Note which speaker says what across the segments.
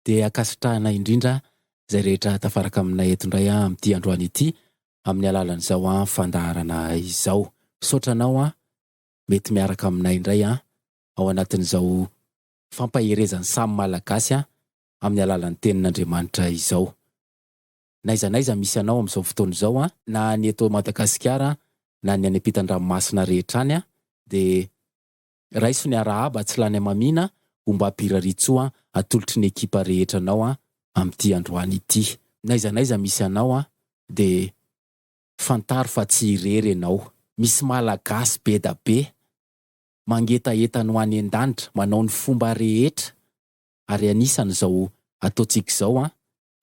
Speaker 1: dia ankasitrahana indrindra izay rehetra tafaraka aminay eto indray amin'ity androany ity amin'ny alalan'izao fandaharana izao. Misaotra anao mety miaraka aminay indray ao anatin'izao fampaherezan'ny samy Malagasy amin'ny alalan'ny Tenin'Andriamanitra izao. N'aiza n'aiza misy anao amin'izao fotoana izao, na ny eto Madagasikara na ny any am-pitan-dranomasina rehetra any dia Raiso ny arahaba tsy lany amamiana homba Piraritsoa atolotry ny ekipa rehetra anao amin'ity androany ity. N'aiza n'aiza misy anao dia fantaro fa tsy irery ianao. Misy Malagasy be da be mangetaheta ny ho any an-danitra manao ny fomba rehetra ary anisany izao ataontsika izao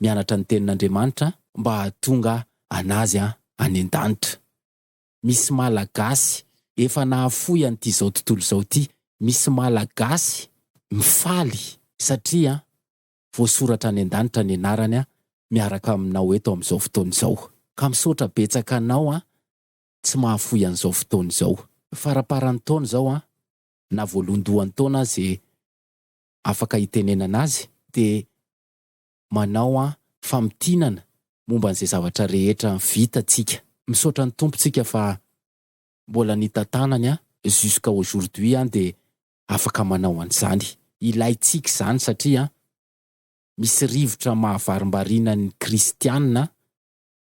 Speaker 1: mianatra ny tenin'Andriamanitra mba hahatonga anazy any an-danitra. misy Malagasy efa nahafoy an'ity izao tontolo izao ity. Misy Malagasy mifaly satria voasoratra any an-danitra ny anarany miaraka aminao eto amin'izao fotoana izao. Ka misaotra betsaka anao tsy mahafoy an'izao fotoana izao. Faraparan'ny taona izao na voalohandohan'ny taona aza afaka hitenenana azy dia manao an famintinana momba an'izay zavatra rehetra vita tsika. Misaotra ny Tompo tsika fa mbola nitatanany an jusqu'à aujourd'hui an dia afaka manao an'izany. Ilaintsika izany satria an misy rivotra mahavarimbariana ny kristianina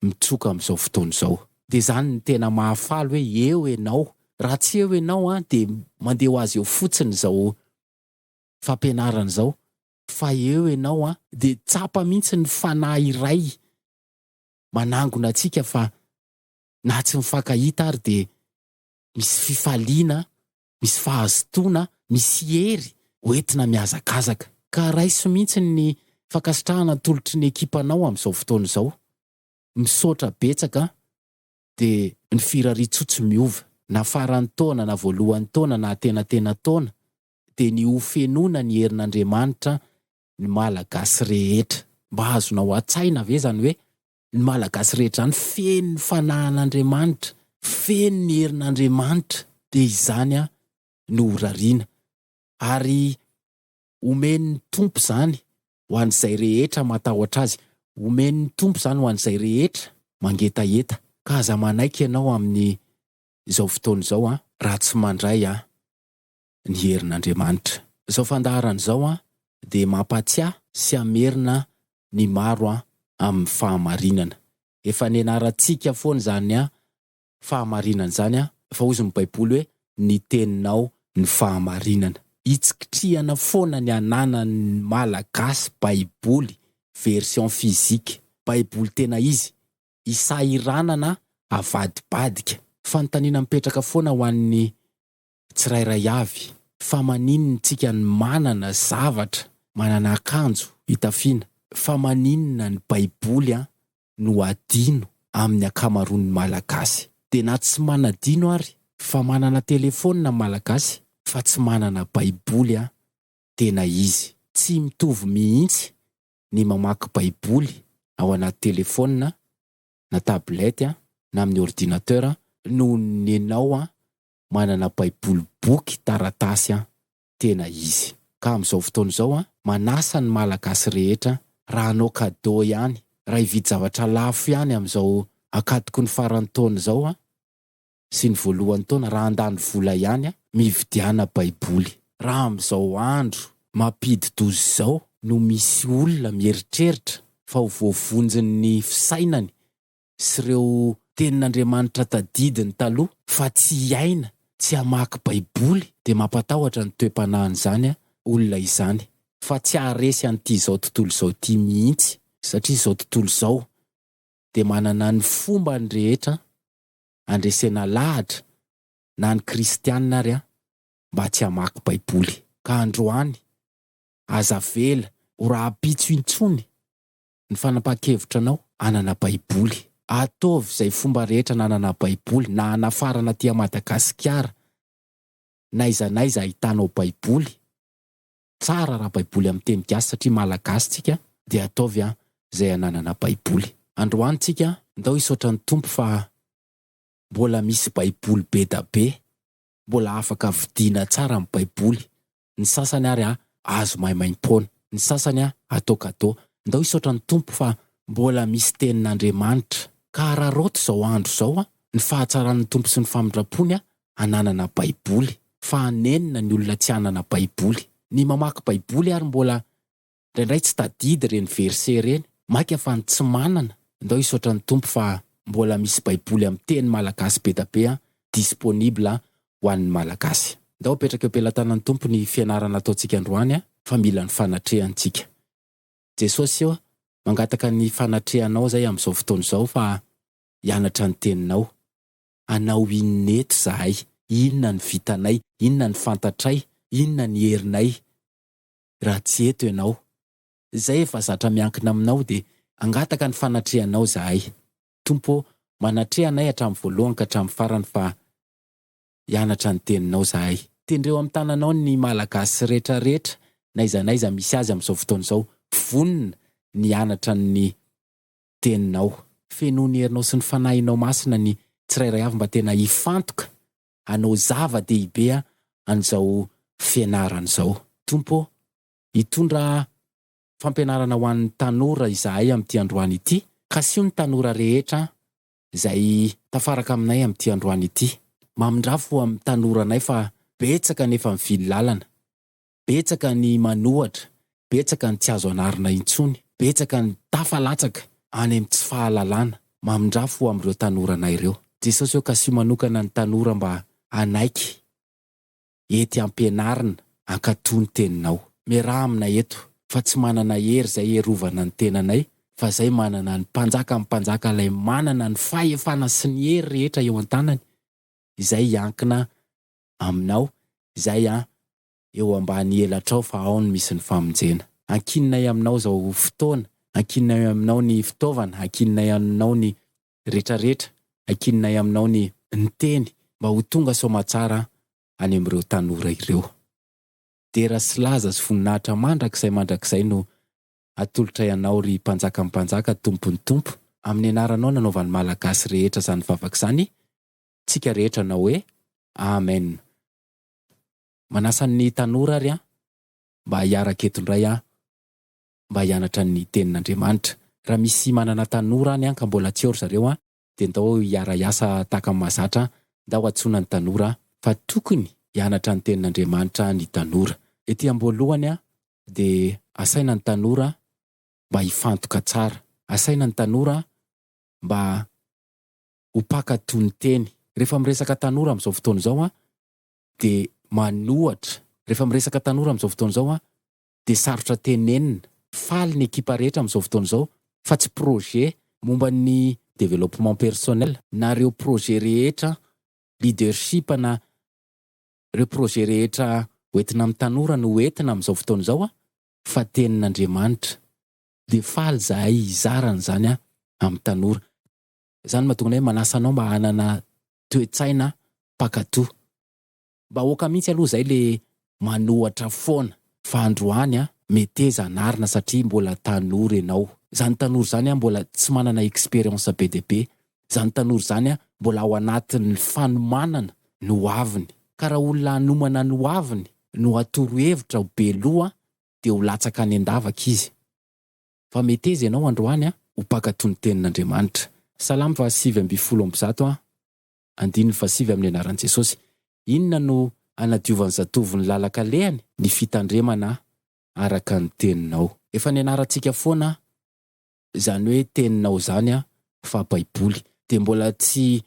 Speaker 1: mitroka amin'izao fotoana izao. Dia izany no tena mahafaly hoe eo ianao. Raha tsy eo ianao an dia mandeha ho azy eo fotsiny izao fampianarana izao fa eo ianao an! Dia tsapa mihitsy ny Fanahy iray manangona antsika fa na tsy mifankahita ary dia misy fifaliana, misy fahazotoana, misy hery hoentina mihazakazaka. Ka raiso mihitsy ny fankasitrahana atolotry ny ekipanao amin'izao fotoana izao. Misaotra betsaka an! Dia ny firariantsoa tsy miova na faran'ny taona na voalohan'ny taona na antenantenan-taona dia ny ho fenoina ny herin'Andriamanitra ny Malagasy rehetra. Mba azonao atsaina ve izany hoe ny Malagasy rehetra izany feno ny fanahin'Andriamanitra, feno ny herin'Andriamanitra dia izany no ho rariana ary omen'ny Tompo izany ho an'izay rehetra matahotra Azy, omen'ny Tompo izany ho an'izay rehetra mangetaheta. Ka aza manaiky ianao amin'izao fotoana izao an! Raha tsy mandray an! ny herin'Andriamanitra. Izao fandaharana izao dia mampahatsiahy sy hamerina ny maro amin'ny fahamarinana. Efa nianarantsika foana izany fahamarinana izany fa hoy ny Baiboly hoe ny teninao ny fahamarinana. Hitsikitrihana foana ny hananan'ny Malagasy Baiboly version physique, Baiboly tena izy, hisahiranana avadibadika. Fanontaniana mipetraka foana ho an'ny tsirairay avy fa maninona tsika no manana zavatra, manana akanjo hitafiana, fa maninona ny baiboly an no adino amin'ny ankamaroan'ny malagasy. Dia na tsy manadino ary fa manana telefaonina ny malagasy fa tsy manana baiboly an tena izy. Tsy mitovy mihitsy ny mamaky baiboly ao anaty telefaonina na tablette na amin'ny ordinateur noho ny nenao an manana baiboly boky taratasy an! tena izy. Ka amin'izao fotoana izao an, manasa ny malagasy rehetra raha hanao cadeau ihany, raha hividy zavatra lafo ihany amin'izao ankatoky ny faran'ny taona izao an, sy ny voalohan'ny taona, raha handany vola ihany an, mividiana baiboly. Raha amin'izao andro mampidi-doza izao no misy olona mieritreritra fa ho voavonjin'ny fisainany sy ireo tenin'Andriamanitra tadidiny taloha fa tsy hiaina, tsy hamaky baiboly dia mampatahotra ny toe-panahin'izany olona izany fa tsy haharesy an'ity izao tontolo izao ity mihitsy satria izao tontolo izao dia manana ny fombany rehetra andresena lahatra na ny kristianina ary mba tsy hamaky baiboly ka androany aza avela ho rahampitso intsony ny fanapahan-kevitra anao hanana baiboly. Ataovy izay fomba rehetra nanana baiboly na hanafarana aty Madagasikara n'aiza n'aiza ahitanao baiboly, tsara raha baiboly amin'ny teny gasy satria malagasy tsika dia ataovy an izay hananana baiboly. Androany tsika ndao hisaotra ny Tompo fa mbola misy baiboly bedabe Mbola afaka vidiana tsara ny baiboly, ny sasany ary an azo maimaimpoana, ny sasany an atao cadeau, ndao hisaotra ny Tompo fa mbola misy tenin'Andriamanitra, ka araraoty izao andro izao an ny fahatsaran'ny Tompo sy ny famindrampony an ananana baiboly, fa hanenina ny olona tsy hanana baiboly, ny mamaky baiboly ary mbola Indraindray tsy tadidy ireny verset ireny, maika fa ny tsy manana, ndao hisaotra ny Tompo fa mbola misy baiboly amin'ny teny malagasy bedabe an, disponible ho an'ny malagasy. Ndao apetraka eo pelatanan'ny Tompo ny fianarana ataontsika androany an, fa mila ny fanatrehany tsika. Jesosy ô, mangataka ny fanatrehanao izay amin'izao fotoana izao fa hianatra ny teninao. Anao inona eto izahay, inona ny vitanay, inona ny fantatray, inona ny herinay. raha tsy eto ianao. Izay efa zatra miankina aminao dia hangataka ny fanatrehanao izahay. Tompo ô, manatreha anay hatramin'ny voalohany ka hatramin'ny farany fa hianatra ny Teninao izahay. Tendreo amin'ny tananao ny Malagasy rehetra rehetra n'aiza n'aiza misy azy amin'izao fotoana izao, vonona ny hianatra ny Teninao. Fenoy ny herinao sy ny Fanahinao Masina ny tsirairay avy mba tena hifantoka hanao zava-dehibe an'izao fianarana izao. Tompo ô, hitondra fampianarana ho an'ny tanora izahay amin'ity androany ity. Kasio ny tanora rehetra izay tafaraka aminay amin'ity androany ity. Mamindrafo amin'ny tanoranay fa betsaka ny efa mivily lalana. betsaka ny manohatra, betsaka ny tsy azo anarina intsony, betsaka ny tafa latsaka any amin'ny tsy fahalalana. Mamindrafo ho amin'ireo tanoranay ireo Jesosy eo ka asio manokana ny tanora mba hanaiky ety ampianarina hankatoa ny teninao. Miaraha aminay eto fa tsy manana hery izay herovana ny tenanay fa izay manana ny Mpanjakan'ny mpanjaka ilay manana ny fahefana sy ny hery rehetra eo an-tanany izay hiankina aminao izay an eo ambany elatrao fa ao no misy ny famonjena. Ankininay aminao izao fotoana, ankininay aminao ny fitaovana, ankininay aminao ny retraretra, ankininay aminao ny. Ny teny mba ho tonga soamatsara any amin'ireo tanora ireo. Dera sy laza sy voninahitra mandrakizay mandrakizay no atolotray anao ry Mpanjakan'ny Mpanjaka Tompon'ny Tompo amin'ny anaranao nanaovan'ny Malagasy rehetra izany vavaka izany tsika rehetra anao hoe Amen Manasa ny tanora ary aho mba hiaraka eto indray aho mba hianatra ny tenin'Andriamanitra. Raha misy manana tanora any ka mbola tsy ao ry zareo dia ndao hiara-hiasa tahaka ny mahazatra aho, ndao antsoina ny tanora fa tokony hianatra ny tenin'Andriamanitra ny tanora. Ety am-boalohany dia asaina ny tanora mba hifantoka tsara, asaina ny tanora mba ho mpaka toniteny. Rehefa miresaka tanora amin'izao fotoana izao an, dia manohatra. Rehefa miresaka tanora amin'izao fotoana izao an, dia sarotra tenenina. Faly ny ekipa rehetra amin'izao fotoana izao, fa tsy projet momba ny développement personnel, na ireo projet rehetra leadership na ireo projet rehetra ho entina amin'ny tanora no ho entina amin'izao fotoana izao an, fa tenin'Andriamanitra. Dia faly izahay hizara an'izany amin'ny tanora. Izany no mahatonga ny hoe manasa anao mba hanana toe-tsaina mpankatò. Bahoaka mihitsy aloha izay le manohatra foana. Fa androany an, meteza anarina satria mbola tanora ianao. Izany tanora izany an mbola tsy manana experience be dia be. Izany tanora izany an mbola ao anatin'ny fanomanana ny ho aviny. Ka raha olona hanomana ny ho aviny no hatoro hevitra ho be loha dia ho latsaka any an-davaka izy. fa meteza ianao androany an! Ho mpankatò ny Tenin'Andriamanitra. Salamo fahasivy ambin'ny folo amby zato an! Andininy fahasivy amin'ny anaran'i Jesosy. Inona no hanadiovan'ny zatovo ny lalan-kalehany? Ny fitandremana araka ny Teninao. Efa nianarantsika foana izany hoe Teninao izany an! fa Baiboly dia mbola tsy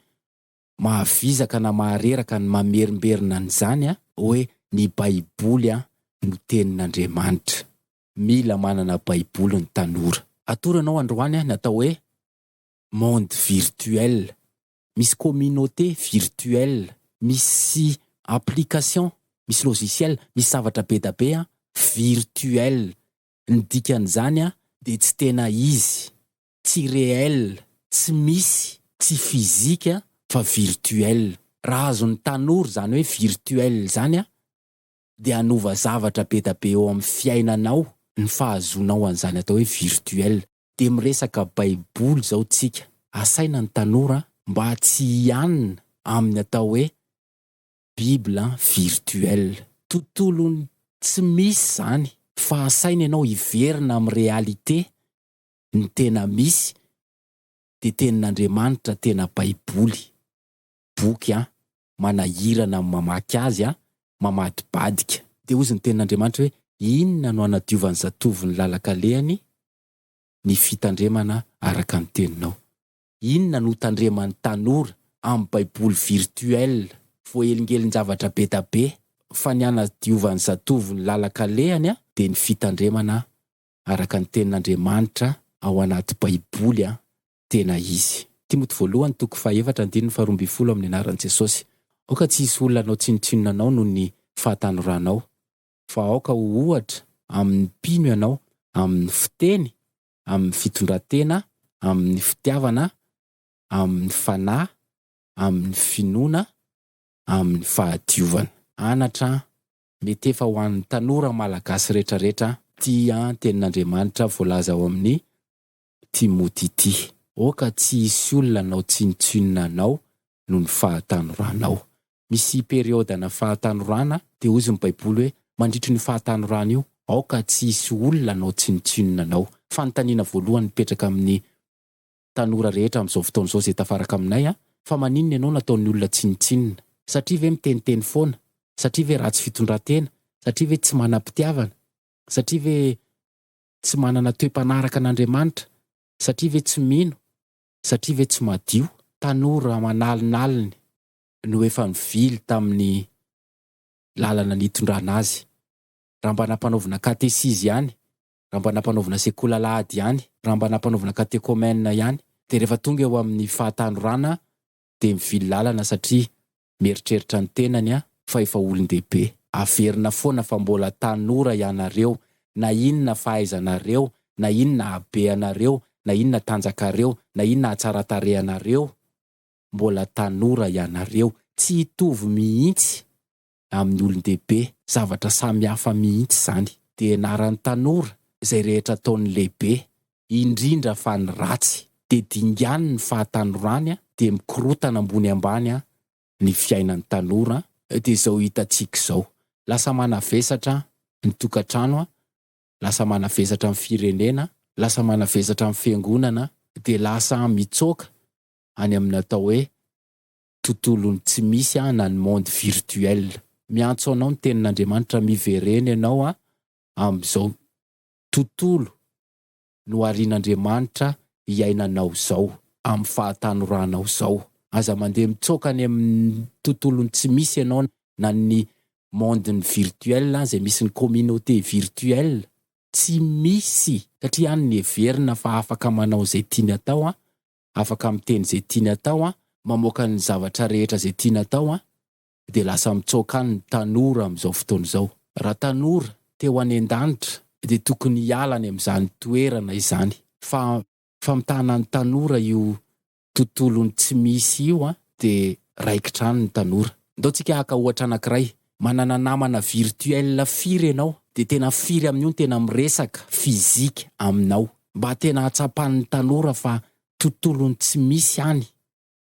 Speaker 1: mahavizaka na mahareraka ny mamerimberina an'izany an! hoe ny Baiboly an! no Tenin'Andriamanitra. Mila manana baiboly ny tanora. Atoro anao androany an natao hoe monde virtuel misy communauté virtuel misy application misy logiciel misy zavatra bedabe an virtuel ny dikan'izany an dia tsy tena izy tsy réel tsy misy tsy physique an fa virtuel raha azon'ny tanora izany hoe virtuel izany an dia hanova zavatra be da be eo amin'ny fiainanao ny fahazoanao an'izany atao hoe virtuel dia miresaka baiboly izao tsika asaina ny tanora mba tsy hianina amin'ny atao hoe bible virtuel tontolon'ny tsy misy izany fa asaina ianao hiverina amin'ny réalité ny tena misy dia tenin'Andriamanitra tena baiboly boky an manahirana amin'ny mamaky azy an, mamadibadika. Dia hozy ny tenin'Andriamanitra hoe, Inona no hanadiovan'ny zatovo ny lalan-kalehany? Ny fitandremana araka ny teninao. Inona no tandreman'ny tanora amin'ny baiboly virtuel voahelingelin-javatra be da be fa ny hanadiovan'ny zatovo ny lalan-kalehany an, dia ny fitandremana araka ny tenin'Andriamanitra ao anaty baiboly an, tena izy. Timoty voalohany toko fahefatra andininy faharoa ambin'ny folo Amin'ny anaran'i Jesosy, aoka tsy hisy olona hanao tsinontsinona anao noho ny fahatanoranao, fa aoka ho ohatra amin'ny mpino ianao amin'ny fiteny, amin'ny fitondran-tena, amin'ny fitiavana, amin'ny fanahy, amin'ny finoana, amin'ny fahadiovana. Anatra an! Mety efa ho an'ny tanora malagasy rehetrarehetra an! Tia an! Tenin'Andriamanitra voalaza ao amin'ny Timothy ity. Oh ka tsy hisy olona hanao tsinontsinona anao noho ny fahatanoranao. Misy periodana fahatanorana, dia hoy ny Baiboly hoe, Mandritry an'io fahatanorana io, aoka tsy hisy olona hanao tsinontsinona anao. Fanontaniana voalohany mipetraka amin'ny tanora rehetra amin'izao fotoana izao izay tafaraka aminay an, Fa maninona ianao no ataon'ny olona tsinontsinona? Satria ve miteniteny foana? Satria ve ratsy fitondran-tena? Satria ve tsy manam-pitiavana? Satria ve. tsy manana toe-panaraka an'Andriamanitra, satria ve tsy mino, satria ve tsy madio. Tanora aman'alinaliny no efa nivily tamin'ny lalana nitondrana azy. Raha mba nampanaovina katesizy ihany, raha mba nampanaovina sekoly alahady ihany, raha mba nampanaovina katekomena ihany, dia rehefa tonga eo amin'ny fahatanorana dia mivily lalana satria mieritreritra ny tenany an fa efa olondehibe. Averina foana fa mbola tanora ianareo na inona fahaizanareo na inona habeanareo na inona tanjakareo na inona hatsaratarehanareo mbola tanora ianareo tsy hitovy mihitsy amin'ny olon-dehibe, zavatra samy hafa mihitsy izany. Dia ianaran'ny tanora izay rehetra ataon'ny lehibe, indrindra fa ny ratsy. Dia dingan'ny ny fahatanorany an, dia mikorotana ambony ambany an ny fiainan'ny tanora an, dia izao hitantsika izao. Lasa manavesatra ny tokantrano an, lasa manavesatra ny firenena an, lasa manavesatra ny fiangonana an, dia lasa mitsoaka any amin'ny atao hoe tontolon'ny tsy misy an, na ny monde virtuel. Miantso anao ny tenin'Andriamanitra, miverena ianao an, amin'izao tontolo noharian'Andriamanitra iainanao izao, amin'ny fahatanoranao izao. Aza mandeha mitsoaka any amin'ny tontolon'ny tsy misy ianao, na ny monde-n'ny virtuel an, izay misy ny communauté virtuelle. Tsy misy, satria any ny heverina fa afaka manao izay tiany atao an, afaka miteny izay tiany atao an, mamoaka ny zavatra rehetra izay tiany atao an, dia lasa mitsoaka any ny tanora amin'izao fotoana izao. Raha tanora te ho any an-danitra dia tokony hiala any amin'izany toerana izany fa famitahana ny tanora io tontolon'ny tsy misy io an, dia raikitra any ny tanora. Ndao tsika haka ohatra anankiray, Manana namana virtuel firy ianao dia tena firy amin'io no tena miresaka, physique, aminao. Mba tena hatsapan'ny tanora fa tontolon'ny tsy misy any,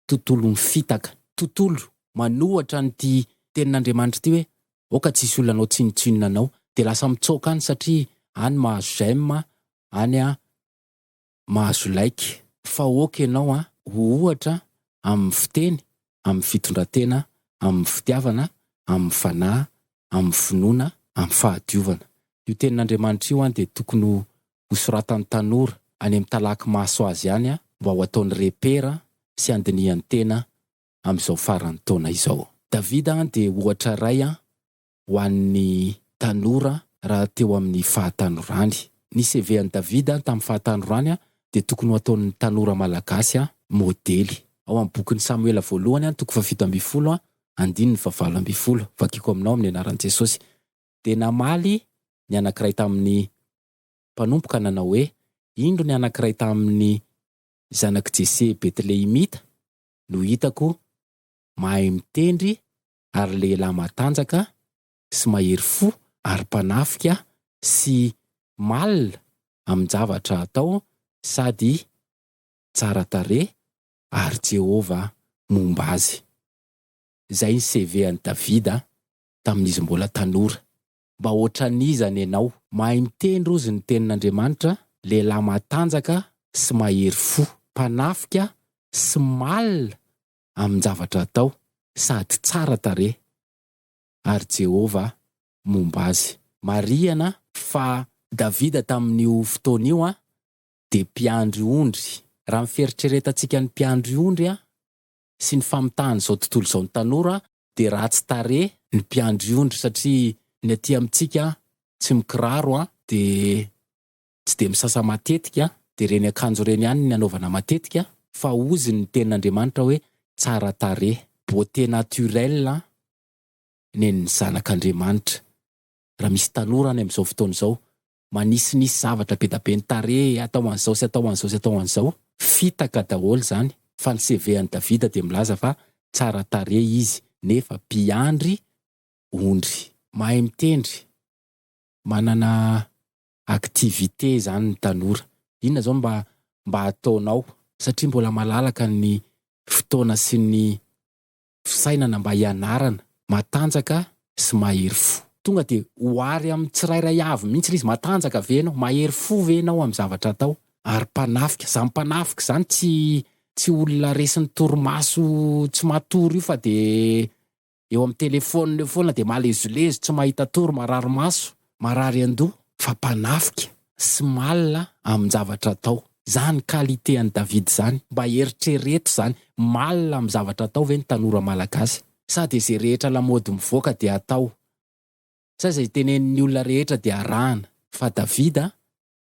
Speaker 1: tontolon'ny fitaka. Tontolo, manohatra an'ity tenin'Andriamanitra ity hoe aoka tsisy olona hanao tsinotsinona anao. Dia lasa mitsaoka any satria any mahazo j'aime, any a. mahazo like. Fa ok enao an ho ohatra amin'ny fiteny, amin'ny fitondratena, amin'ny fitiavana, amin'ny fanahy, amin'ny finoana, amin'ny fahadiovana. Io tenin'Andriamanitra io an dia tokony ho soratan'ny tanora any amin'ny talaky maso azy any an mba ho ataony repera sy handinihany tena amin'izao faran'ny taona izao. Davida an dia ohatra iray an ho an'ny tanora raha teo amin'ny fahatanorany. Ny CV an'i David tamin'ny fahatanorany dia tokony ho ataon'ny tanora malagasy modely. Ao amin'ny bokin'i Samoela voalohany, toko fahafito ambin'ny folo, andininy fahavalo ambin'ny folo, vakiko aminao amin'ny anaran'i Jesosy, dia namaly ny anankiray tamin'ny mpanompo ka nanao hoe, Indro ny anankiray tamin'ny zanak'i Jese Betlehemita no hitako mahay mitendry ary lehilahy matanjaka sy mahery fo ary mpanafika sy mal amin-javatra atao sady tsara tarehy ary Jehovah momba azy. Izay ny CV an'i Davida tamin'izy mbola tanora. Mba hoatran'iza nenao? Mahay miteny rozy ny tenin'Andriamanitra, lehilahy matanjaka sy mahery fo, mpanafika sy mal amin-javatra atao sady tsara tarehy, ary Jehovah momba azy. Marihana fa Davida tamin'io fotoana io dia mpiandry ondry. Raha ny fieritreretantsika ny mpiandry ondry sy ny famitahan'izao tontolo izao ny tanora, dia ratsy tarehy ny mpiandry ondry satria ny aty amintsika tsy mikiraro dia tsy dia misasa matetika dia ireny akanjo ireny ihany ny anaovana matetika fa ozy ny tenin'Andriamanitra hoe tsara tarehy, beauté naturelle, nen'ny zanak'Andriamanitra. Raha misy tanora any amin'izao fotoana izao manisinisy zavatra be da be ny tarehy atao an'izao sy atao an'izao sy atao an'izao, fitaka daholo izany fa ny CV an'i Davida dia milaza fa tsara tarehy izy nefa mpiandry ondry. Mahay mitendry, manana activité zany ny tanora. Inona zao mba mba ataonao satria mbola malalaka ny fotoana sy ny fisainana mba hianarana matanjaka sy mahery fo. Tonga dia ho ary amin'ny tsirairay avy mihitsy ilay izy, matanjaka ve ianao, mahery fo ve ianao amin'ny zavatra atao ary mpanafika. Izany mpanafika izany tsy tsy olona resin'ny torimaso tsy matory io fa dia eo amin'ny telefaonina eo foana dia malezolezo, tsy mahita tory, marary maso, marary an-doha, fa mpanafika sy malina amin-javatra atao. Izany qualité an'i David izany, mba eritrereto izany, malina amin'ny zavatra atao ve ny tanora malagasy? Sa dia izay rehetra lamaody mivoaka dia atao? Sa izay tenenin'ny olona rehetra dia arahana? Fa David a!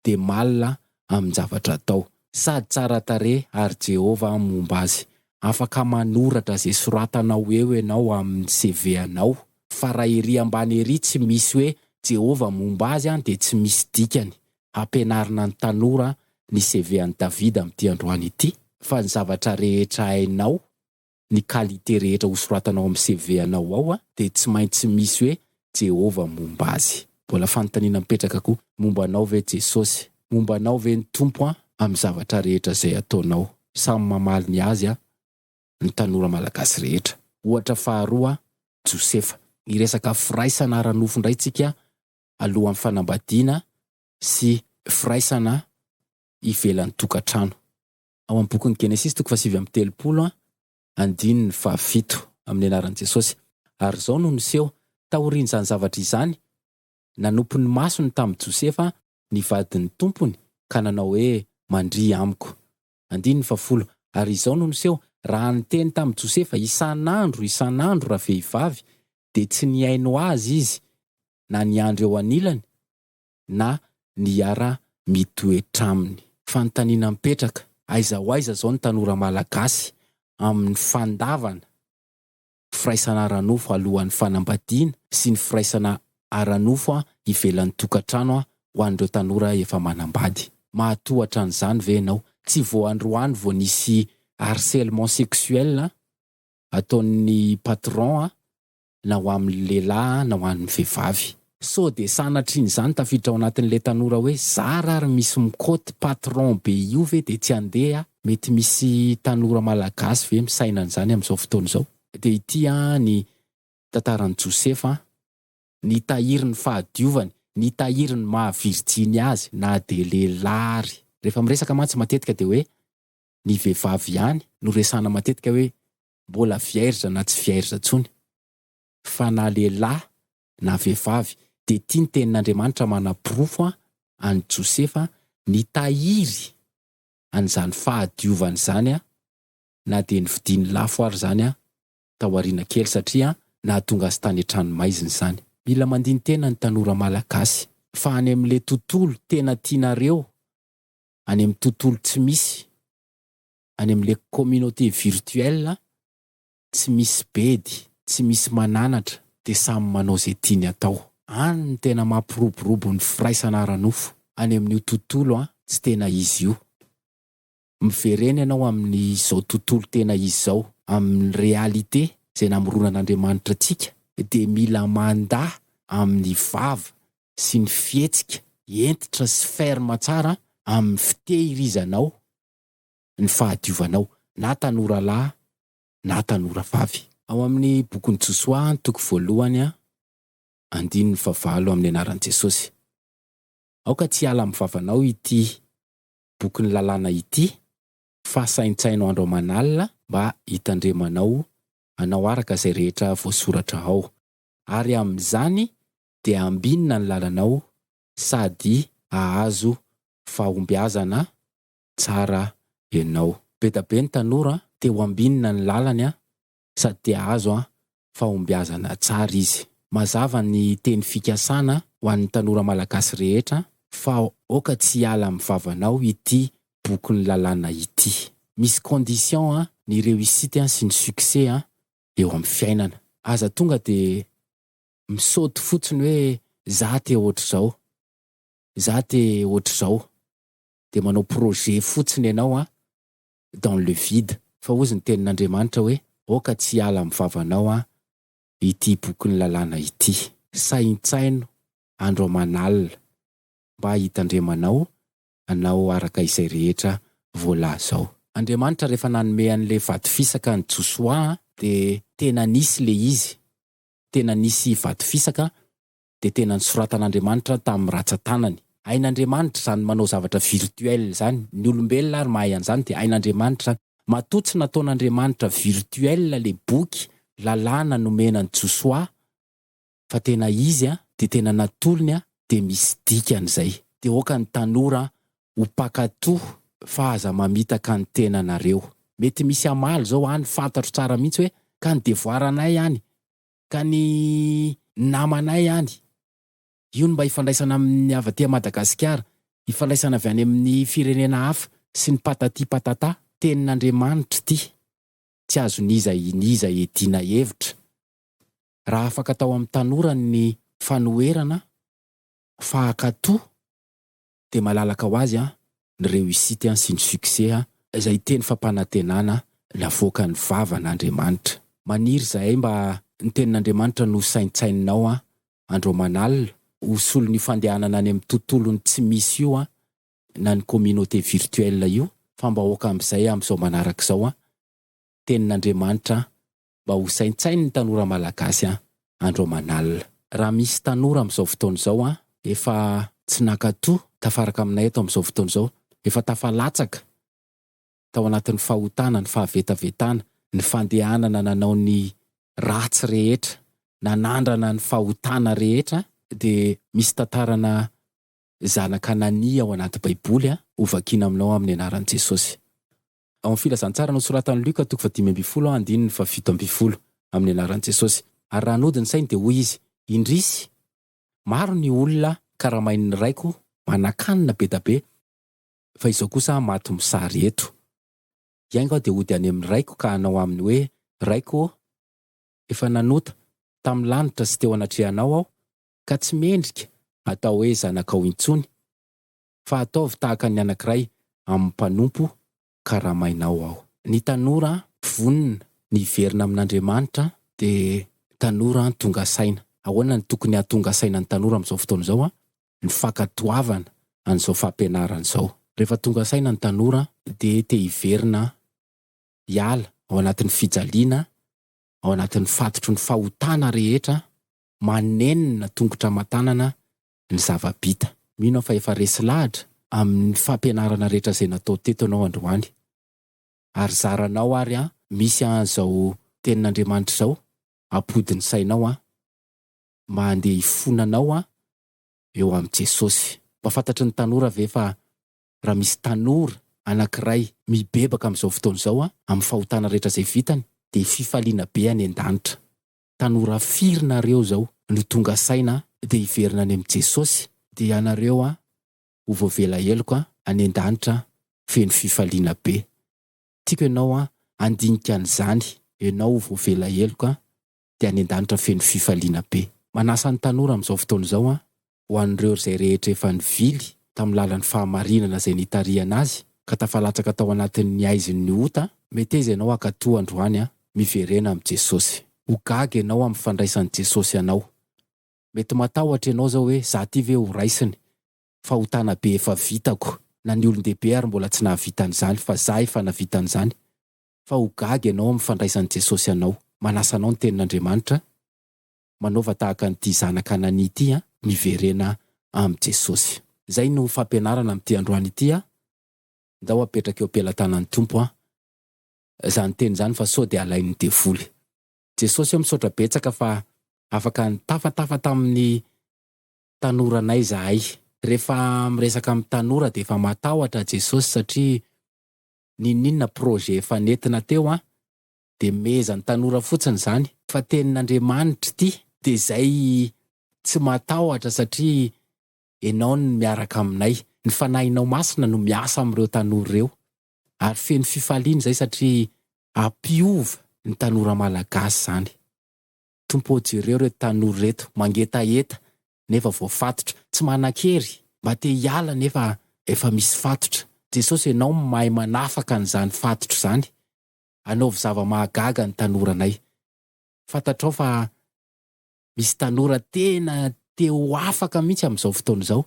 Speaker 1: dia malina amin-javatra atao. Sady tsara tarehy ary Jehovah momba azy. Afaka manoratra izay soratanao eo ianao amin'ny CV anao, fa raha ery ambany ery tsy misy hoe Jehovah momba azy dia tsy misy dikany. Hampianarina ny tanora ny CV an'i Davida amin'ity androany ity. Fa ny zavatra rehetra hainao ny qualité rehetra ho soratanao amin'ny CV anao ao dia tsy maintsy misy hoe Jehovah momba azy. Mbola fanontaniana mipetraka koa, momba anao ve Jesosy? Momba anao ve ny Tompo an amin'ny zavatra rehetra izay ataonao? Samy mamaly ny azy an ny tanora malagasy rehetra. Ohatra faharoa an, Josefa. Hiresaka firaisana ara-nofo indray tsika alohan'ny fanambadiana sy firaisana ivelan'ny tokantrano. ao amin'ny bokin'ny Genesisy toko fahasivy amby telopolo, andininy fahafito, amin'ny anaran'i Jesosy. Ary izao no niseho, taorian'izany zavatra izany, nanopy ny masony tamin'i Josefa ny vadin'ny tompony ka nanao hoe, Mandria amiko. Andininy fahafolo, Ary izao no niseho, raha niteny tamin'i Josefa isan'andro isan'andro ravehivavy, dia tsy nihaino azy izy na niandry eo anilany, na ny hiara-mitoetra aminy. Fanontaniana mipetraka, aiza ho aiza izao ny tanora malagasy amin'ny fandavana firaisana ara-nofo alohan'ny fanambadiana sy ny firaisana ara-nofo ivelan'ny tokantrano ho an'ireo tanora efa manambady? Mahatoa hatranyizany ve ianao? Tsy vao androany vao nisy harcèlement sexuel ataon'ny patron na ho amin'ny lehilahy na ho an'ny vehivavy. Sao dia sanatrin'izany tafiditra ao anatin'ilay tanora hoe zara ary misy mikoty patron be io ve dia tsy andeha a! Mety misy tanora malagasy ve misaina an'izany amin'izao fotoana izao? Dia ity an ny tantaran'i Josefa an! Nitahiry ny fahadiovany, nitahiry ny maha virjiny azy na dia lehilahy ary. Rehefa miresaka mantsy matetika dia hoe ny vehivavy ihany no resahana matetika hoe mbola vierge na tsy vierge intsony, fa na lehilahy na vehivavy dia ity ny tenin'Andriamanitra manaporofo an'i Josefa nitahiry an'izany fahadiovany izany na dia novidiany lafo ary izany tao aoriana kely satria nahatonga azy tany an-trano maizina izany. Mila mandini-tena ny tanora malagasy fa any amin'ilay tontolo tena tianareo, any amin'ny tontolo tsy misy any amin'ilay communauté virtuelle tsy misy bedy, tsy misy mananatra dia samy manao izay tiany atao. Any no tena mampiroborobo ny firaisana ara-nofo any amin'io tontolo tsy tena izy io. Miverena ianao amin'izao tontolo tena izy izao, amin'ny réalité izay namoronan'Andriamanitra antsika dia mila mandà amin'ny vava sy ny fihetsika hentitra sy ferme tsara amin'ny fitehirizanao ny fahadiovanao na tanora lahy na tanora vavy. Ao amin'ny bokin'i Josoa ny toko voalohany andininy fahavalo amin'ny anaran'i Jesosy. Aoka tsy hiala amin'ny vavanao ity bokin'ny lalàna ity fa saintsaino andro aman'alina mba hitandremanao hanao araka izay rehetra voasoratra ao. Ary amin'izany dia hambinina ny lalanao sady hahazo fahombiazana tsara enao. Bedabe ny tanora te ho ambinina ny lalany an, sady te ahazo an fahombiazana tsara izy. Mazava ny teny fikasana ho an'ny tanora malagasy rehetra fa aoka tsy hiala amin'ny vavanao ity bokin'ny lalàna ity. Misy condition an ny reussite an sy ny succès an eo amin'ny fiainana. Aza tonga dia misaoty fotsiny hoe za te ohatr'izao, za te ohatr'izao. dia manao projet fotsiny ianao an, dans le vide. Fa hozy ny tenin'Andriamanitra hoe, Aoka tsy hiala amin'ny vavanao an, ity bokin'ny lalàna ity. Saintsaino andro aman'alina mba hitandremanao anao araka izay rehetra voalaza ao. Andriamanitra rehefa nanome an'ilay vato fisaka an'i Josoa an, dia tena nisy ilay izy, tena nisy vato fisaka dia tena nisoratan'Andriamanitra tamin'ny ratsan-tanany. Hain'Andriamanitra izany manao zavatra virtuel izany, ny olombelona ary mahay an'izany dia hain'Andriamanitra izany. Matoa tsy nataon'Andriamanitra virtuel ilay boky, lalàna nomena an'i Josoa, fa tena izy an, dia tena natolony an, dia misy dikany izay. Dia aoka ny tanora an, ho mpankatò fa aza mamitaka ny tenanareo. Mety misy hamaly izao any, fantatro tsara mihitsy hoe, ka ny devoaranay any, ka ny namanay any, io no mba ifandraisana amin'ny avy aty Madagasikara, ifandraisana avy any amin'ny firenena hafa sy ny patati patata. Tenin'Andriamanitra ity, tsy azon'iza n'iza iadiana hevitra. Raha afaka tao amin'ny tanora ny fanoherana, fa hankatò, dia malalaka ho azy ny réussite sy ny succès izay teny fampanantenana navoakan'ny vavan'Andriamanitra. Maniry izahay mba ny tenin'Andriamanitra no saintsaininao andro aman'alina ho solon'io fandehanana any amin'ny tontolon'ny tsy misy io na ny communauté virtuelle io fa mba aoka amin'izay amin'izao manaraka izao tenin'Andriamanitra mba ho saintsain'ny tanora malagasy an! andro aman'alina. Raha misy tanora amin'izao fotoana izao an! efa tsy nankato tafaraka aminay eto amin'izao fotoana izao, efa tafalatsaka tao anatin'ny fahotana, ny fahavetavetana, ny fandehanana nanao ny ratsy rehetra, nanandrana ny fahotana rehetra an! dia misy tantarana zanak'Anania ao anaty baiboly an! hovakina aminao amin'ny anaran'i Jesosy. Ao amin'ny Filazantsara nosoratan'i Luka toko fahadimy ambin'ny folo andininy fahafito ambin'ny folo, amin'ny anaran'i Jesosy. Ary raha nody ny sainy dia hoy izy, Indrisy! Maro ny olona karamain'ny Raiko manan-kanina be da be, fa izao kosa aho maty mosary eto. Hiainga aho dia hody any amin'ny Raiko ka hanao aminy hoe, Raiko ô! Efa nanota, tamin'ny lanitra sy teo anatrehanao aho, ka tsy mendrika hatao hoe zanakao intsony. fa ataovy tahaka ny anankiray amin'ny mpanompo karamainao aho. Ny tanora vonona ny hiverina amin'Andriamanitra dia tanora tonga saina. Ahoana no tokony hahatonga saina ny tanora amin'izao fotoana izao? Ny fankatoavana an'izao fampianarana izao. Rehefa tonga saina ny tanora dia te hiverina hiala ao anatin'ny fijaliana, ao anatin'ny fatotry ny fahotana rehetra, manenina tongotra aman-tanana ny zava-bita. Mino aho fa efa resy lahatra amin'ny fampianarana rehetra izay natao teto ianao androany. Ary zaranao ary an, misy an'izao Tenin'Andriamanitra izao ampody ny sainao an, mba handeha hifona anao an, eo amin'i Jesosy. Mba fantatry ny tanora ve fa raha misy tanora anankiray mibebaka amin'izao fotoana izao an, amin'ny fahotana rehetra izay vitany, dia fifaliana be any an-danitra. tanora firy nareo zao no tonga saina dia hiverina any amin'i Jesosy dia ianareo an ho voavela heloka any an-danitra feno fifaliana be. Tiako ianao an handinika an'izany ianao ho voavela heloka dia any an-danitra feno fifaliana be. Manasa ny tanora amin'izao fotoana izao an ho an'ireo izay rehetra efa nivily tamin'ny lalan'ny fahamarinana izay nitarihana azy ka tafalatsaka tao anatin'ny haizin'ny ota, meteza ianao hankatoa androany an! Miverena amin'i Jesosy. Ho gaga ianao amin'ny fandraisan'i Jesosy anao. Mety matahotra ianao izao hoe, za ty ve ho raisiny? Fahotana be efa vitako. Na ny olon-dehibe ary mbola tsy nahavita an'izany fa za efa navita an'izany. Fa ho gaga ianao amin'ny fandraisan'i Jesosy anao. Manasa anao ny tenin'Andriamanitra. Manaova tahaka an'ity zanaka Anania ity an! Miverena amin'i Jesosy. Izay no fampianarana amin'ity androany ity an! Ndao apetraka eo am-pelatanan'ny Tompo an! Izany teny izany fa sao dia alain'ny devoly. Jesosy o misaotra betsaka fa afaka nitafatafa tamin'ny tanoranay izahay. Rehefa miresaka amin'ny tanora dia efa matahotra Jesosy satria n'inon'inona projet efa nentina teo an! dia mehezan'ny tanora fotsiny izany. Fa tenin'Andriamanitra ity. Dia izay tsy matahotra satria Ianao no miaraka aminay. Ny Fanahinao Masina no miasa amin'ireo tanora ireo. Ary feno fifaliana izay satria hampiova ny tanora malagasy izany. Tompo ô jereo ireto tanora ireto mangetaheta nefa voafatotra, tsy manan-kery, mba te hiala nefa efa misy fatotra. Jesosy Ianao no mahay manafaka an'izany fatotra izany. anaovy zava-mahagaga ny tanoranay. Fantatrao fa misy tanora tena te ho afaka mihitsy amin'izao fotoana izao.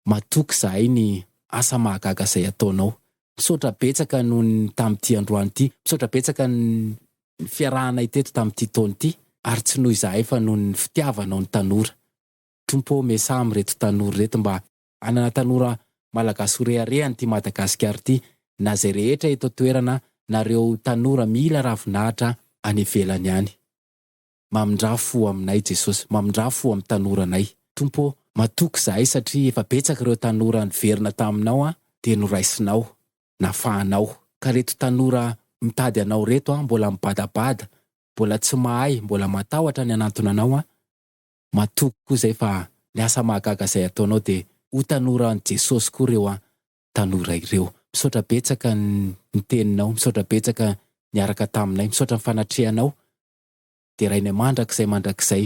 Speaker 1: Matoky izahay ny asa mahagaga izay ataonao. Misaotra betsaka noho ny tamin'ity androany ity. Misaotra betsaka ny fiarahanay teto tamin'ity taona ity. Ary tsy noho izahay fa noho ny fitiavanao ny tanora. Tompo ô, miasà amin'ireto tanora ireto mba anana tanora Malagasy ho rehareha an'ity Madagasikara ity na izay rehetra eto an-toerana na ireo tanora mila ravinahitra any ivelany any. Mamindrà fo aminay Jesosy, mamindrà fo amin'ny tanoranay. Tompo ô, matoky izahay satria efa betsaka ireo tanora niverina taminao dia noraisinao, nafahanao. Ka reto tanora mitady anao reto mbola mibadabada, mbola tsy mahay, mbola matahotra ny hanantona anao, matoky koa zay fa le asa mahagaga zay ataonao de ho tanora an'i Jesosy koa reo an tanora ireo. Misaotra betsaka ny teninao, misaotra betsaka niaraka taminay, misaotra ny fanatrehanao, derainay mandrakizay mandrakizay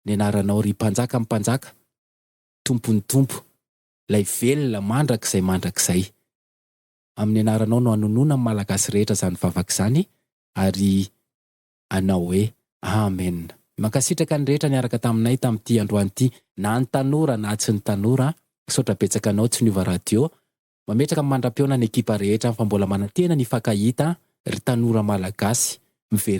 Speaker 1: ny anaranao ry Mpanjakan'ny mpanjaka, Tompon'ny tompo, lay velona mandrakizay mandrakizay. Amin'ny anaranao no anonona ny Malagasy rehetra zany vavaka zany ary anao hoe Amen. Mankasitraka ny rehetra niaraka taminay tamin'ity androany ity, na ny tanora na tsy ny tanora a. Misaotra betsaka anao tsy niova radio. Mametraka mandra-pihaona ny ekipa rehetra fa mbola manantena ny hifankahita ry tanora Malagasy. Miverena.